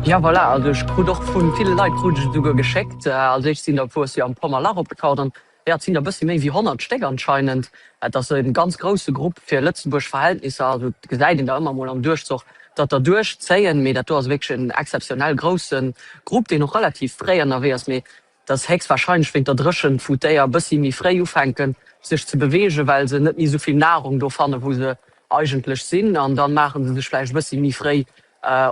Ja voilà, also ech krut och vun ville Leit krut ech esouguer geschéckt. Als éischt sinn der wuars jo am Pommerlach opgetaucht an jo et sinn der bëssi méi wéi 100 Stéck anscheinend. Et ass e ganz grousse Grupp fir Lëtzebuerg Verhältnisser, also et gesäit een der ëmmer mol am Duerchzoch datt der duerchzéien, mee dat do ass wierklech en exzeptionell grousse Grupp deen och relativ fréi ënnerwee ass. Mee dass héchstwahrscheinlech wéint der Dréchent, wou d'Déier bëssi méi fréi ufänken sech ze beweegen, well se net méi esou vill Nahrung do fannen, wou se eigentlech sinn, an dann maachen se sech vläicht e bëssi méi fréi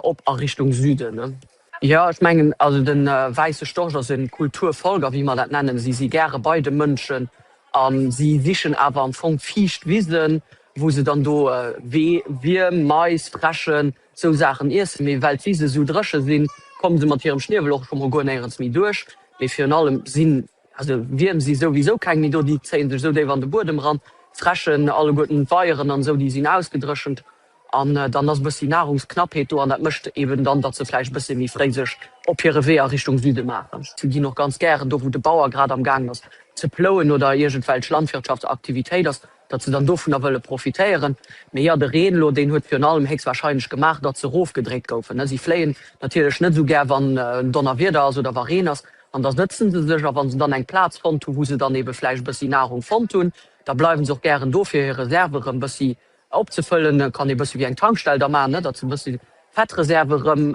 op a Richtung Süden. Jo, ech mengen, also de wäisse Storch ass e Kulturfolger, wéi mer dat nennen. Si si gäre bei de Mënschen a si sichen awer am Fong fiicht Wisen, wou se dann do Wierm, Mais, Fräschen, Sou Saachen iesse mir, well d'Wise sou dréche sinn, komme se mat hirem Schniewel och scho mol guer néierens méi duerch. Mee virun allem sinn also Wierm si souwisou keng méi do, déi zéie sech sou déif an de Buedem ran. D'Fräschen alleguerten, d'Weieren an esou, déi sinn ausgedréchent an dann ass e bëssi Nahrungsknappheet do an dat mécht eben dann, datt se vläicht e bëssi méi fréi sech op hire Wee a Richtung Süde maachen. Si ginn och ganz gären do, wou de Bauer grad am gaangen ass ze plouen oder iergendwelch Landwirtschaftsaktivitéit ass. datt se dann dovunner wëlle profitéieren, mee jo, de Reen elo, deen huet virun allem héchstwahrscheinlech gemaach, datt se rofgedréit goufen. Si fléien natierlech net esou gär, wann Donnerwieder ass oder wa Reen ass, an da sëtzen se sech, a wa se dann eng Plaz fonnt hu wou se dann eebe vläicht e bëssi Nahrung fonnt hunn, da bleiwe se och gären do fir hir Reserve erëm e bëssi opzefëllen. Et kann ee e bëssi wéi eng Tankstell da maachen, datt se e bëssi Fettreserve erëm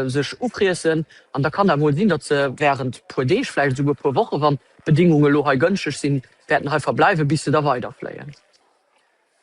sech ufriessen, an da kann dat emol sinn, datt se wärend e puer Deeg, vläicht esouguer e puer Woche, wann d'Bedingunge elo hei gënschteg sinn, wäerten hei verbleiwen, bis se da weiderfléien.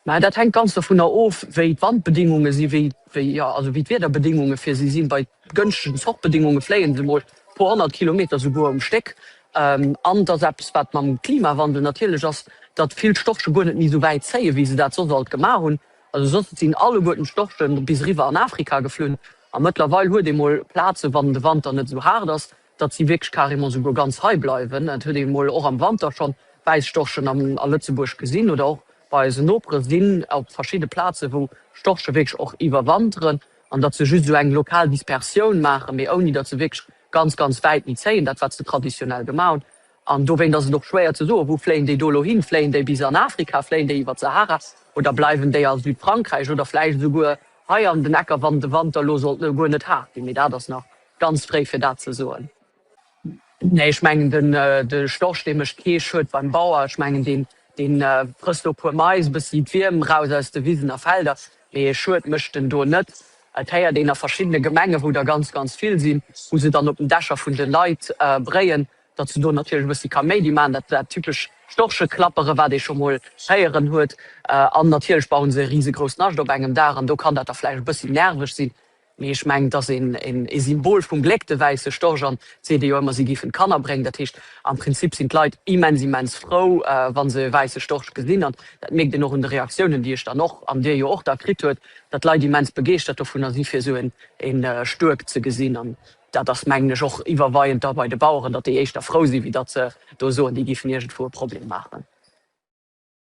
Mä dat hänkt ganz dovunner of, wéi d'Wandbedingunge sinn, wéi, wéi, jo, also wéi d'Wiederbedingunge fir si sinn. Bei gënschtegen Zochtbedingunge fléien se emol e puer honnert Kilometer souguer um Stéck. An et ass eppes, wat mam Klimawandel natierlech ass, datt vill Storche guer net méi esou wäit zéien, wéi se dat soss alt gemaach hunn. Also soss sinn alleguerten d'Storche bis eriwwer an Afrika geflunn. A mëttlerweil huet ee mol Plazen, wann de Wanter net esou haart ass, datt si wierklech carrément souguer ganz hei bleiwen, et huet ee mol och am Wanter schonn Wäisstorchen a Lëtzebuerg gesinn oder och bei eisen Nopere sinn op verschidde Plazen, wou Storche wierklech och iwwerwanteren an datt se just esou eng lokal Dispersioun maachen, mee ouni datt se wierklech ganz, ganz wäit méi zéien, dat wat se traditionell gemaach hunn. An dowéint ass et och schwéier ze soen, wou fléien déi do elo hin? Fléien déi bis an Afrika, fléien déi iwwert d'Sahara oder bleiwen déi a Südfrankräich oder vläicht esouguer hei an den Ecker, wann de Wanter elo sollt guer net haart ginn, mee dat ass nach Ganz fréi fir dat ze soen. Nee, ech mengen de Storch dee mécht kee Schued beim Bauer. Ech mengen dee frësst do e puer Mais, e bëssi d'Wierm raus aus de Wisen a Felder, mee Schued mécht en do net. Et héiert een a verschiddene Gemengen, wou der ganz ganz vill sinn, wou se dann op den Dächer vun de Leit bréien, datt se do natierlech e bëssi Kaméidi maachen, dat dat typesch Storcheklappere wat ee scho mol héieren huet. An natierlech bauen se e risegrouss Nascht op engem Daach an do kann dat da vläicht e bëssi nerveg sinn. Mee ech mengen, et ass e Symbol vum Gléck, de wäisse Storch. An et seet ee jo ëmmer, si gifen d'Kanner bréngen. Dat heescht, am Prinzip sinn d'Leit immens, immens frou, wa se e wäisse Storch gesinn. An dat mierkt een och un de Reaktiounen, déi ech dann och, an Dir jo och, da kritt huet, datt d'Leit immens begeeschtert dovunner si, fir esou e Stuerk ze gesinn. An dat ass, mengen ech, och iwwerweiend da bei de Baueren, datt déi éischter frou sinn, wéi datt se do soen, déi gifen iergendwou e Problem maachen.